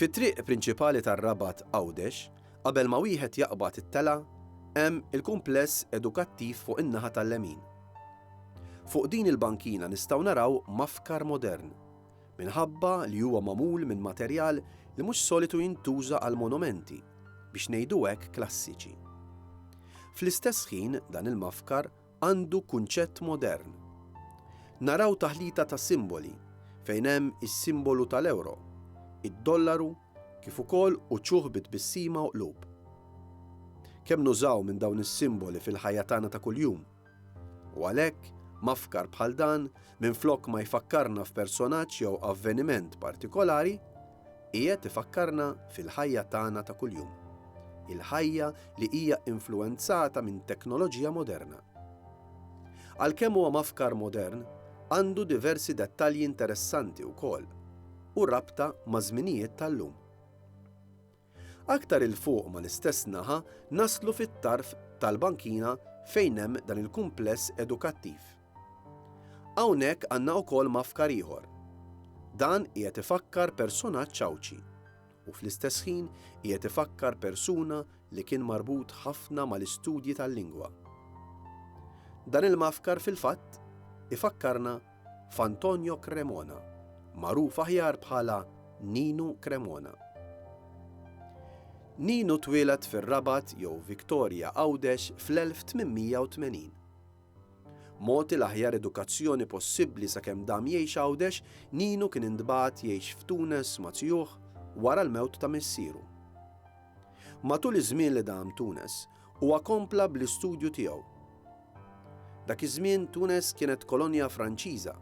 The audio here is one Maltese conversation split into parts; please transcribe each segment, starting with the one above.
Fit-triq prinċipali tar-Rabat Għawdex, qabel ma wieħed jaqbad it-telgħa, hemm il-kumpless edukattiv fuq in-naħa tal-lemin. Fuq din il-bankina nistgħu naraw mafkar modern, minħabba li huwa magħmul minn materjal li mhux solitu jintuża għal monumenti, biex ngħidu hekk klassiċi. Fl-istess ħin dan il-mafkar għandu kunċett modern. Naraw taħlita ta' simboli fejn hemm is-simbolu tal-ewro, id-dollaru kif ukoll uċuħ bi tbissima u qlub. Kemm nużaw minn dawn is-simboli fil-ħajja tagħna ta' kuljum! U għalhekk, mafkar bħal dan, minflok ma jfakkarna f'personaġġ jew avveniment partikolari, Qiegħed ifakkarna fil-ħajja tagħna ta' kuljum. Il-ħajja li hija influwenzata minn teknoloġija moderna. Għalkemm huwa mafkar modern, għandu diversi dettalji interessanti wkoll u rabta maż-żminijiet tal-lum. Aktar 'il fuq mal-istess naħa naslu fit-tarf tal-bankina fejn hemm dan il-kumpless edukattiv. Hawnhekk għandna wkoll mafkar ieħor. Dan qiegħed ifakkar personaġġ Għawdxi u fl-istess ħin qiegħed ifakkar persuna li kien marbut ħafna mal-istudji tal-lingwa. Dan il-mafkar fil-fatt ifakkarna f'Antonio Cremona, magħruf aħjar bħala Ninu Cremona. Ninu twieled fir-Rabat jew Victoria Għawdex fl-1880. Mogħti l-aħjar edukazzjoni possibbli sakemm dam jgħix Għawdex, Ninu kien intbagħat jgħix f'Tunes ma' tijuh wara l-mewt ta' missieru. Matul iż-żmien li dam Tunes, huwa kompla bl-istudju tiegħu. Dak iż-żmien Tunes kienet kolonja Franċiża.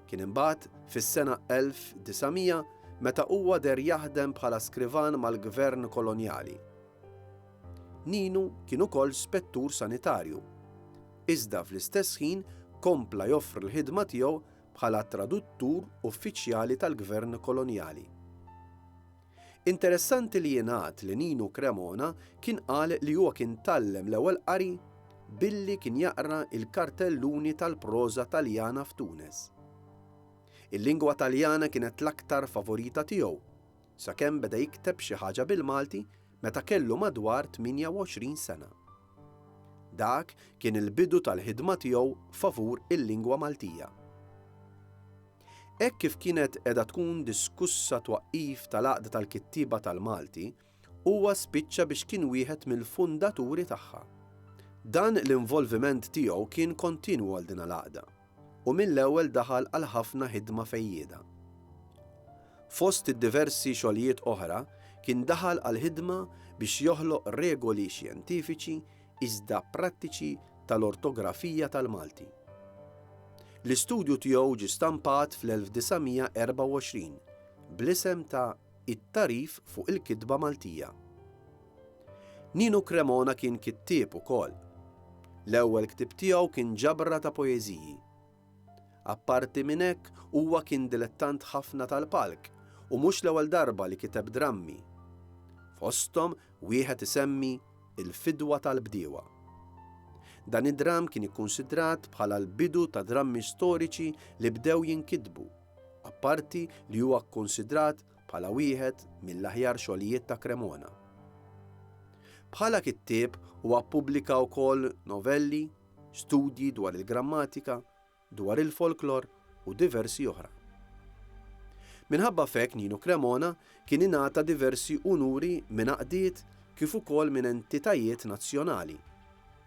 Kien imbagħad fis-sena 1900 meta huwa deher jaħdem bħala skrivan mal-gvern kolonjali. Ninu kien ukoll spettur sanitarju, iżda fl-istess ħin kompla joffri l-ħidma tiegħu bħala traduttur uffiċjali tal-gvern kolonjali. Interessanti li jingħad li Ninu Cremona kien qal li huwa kien tgħallem l-ewwel qari billi kien jaqra l-kartelluni tal-proża Taljana f'Tunis. Il-lingwa Taljana kienet l-aktar favorita tiegħu sakemm beda jikteb xi ħaġa bil-Malti meta kellu madwar 28 sena. Dak kien il-bidu tal-ħidma tiegħu favur il-lingwa Maltija. Hekk kif kienet qiegħda tkun diskussa twaqqif tal-Għaqda tal-Kittieba tal-Malti, huwa spiċċa biex kien wieħed mill-fundaturi tagħha. Dan l-involviment tiegħu kien kontinwu għal din l-għaqda. u mill-ewwel daħal għal ħafna ħidma fejjieda. Fost id-diversi xogħlijiet oħra kien daħal għall-ħidma biex joħloq regoli xjentifiċi iżda prattiċi tal-ortografija tal-Malti. L-istudju tiegħu ġie stampat fl-1924 bl-isem ta' It-tagħrif fuq il-kitba Maltija. Ninu Cremona kien kittieb ukoll. L-ewwel ktieb tiegħu kien ġabra ta' poeżiji. Apparti minn hekk huwa kien dilettant ħafna tal-palk u mhux l-ewwel darba li kiteb drammi. Fosthom wieħed isemmi Il-Fidwa tal-Bdiewa. Dan id-dramm kien ikkunsidrat bħala l-bidu ta' drammi storiċi li bdew jinkitbu. apparti li huwa kkunsidrat bħala wieħed mill-aħjar xogħlijiet ta' Cremona. Bħala kittieb huwa ppubblika wkoll novelli, studji dwar il-grammatika, dwar il-folklor u diversi oħra. Minħabba f'hekk Nino Cremona kien ingħata diversi unuri minn għaqdiet kif ukoll minn entitajiet nazzjonali.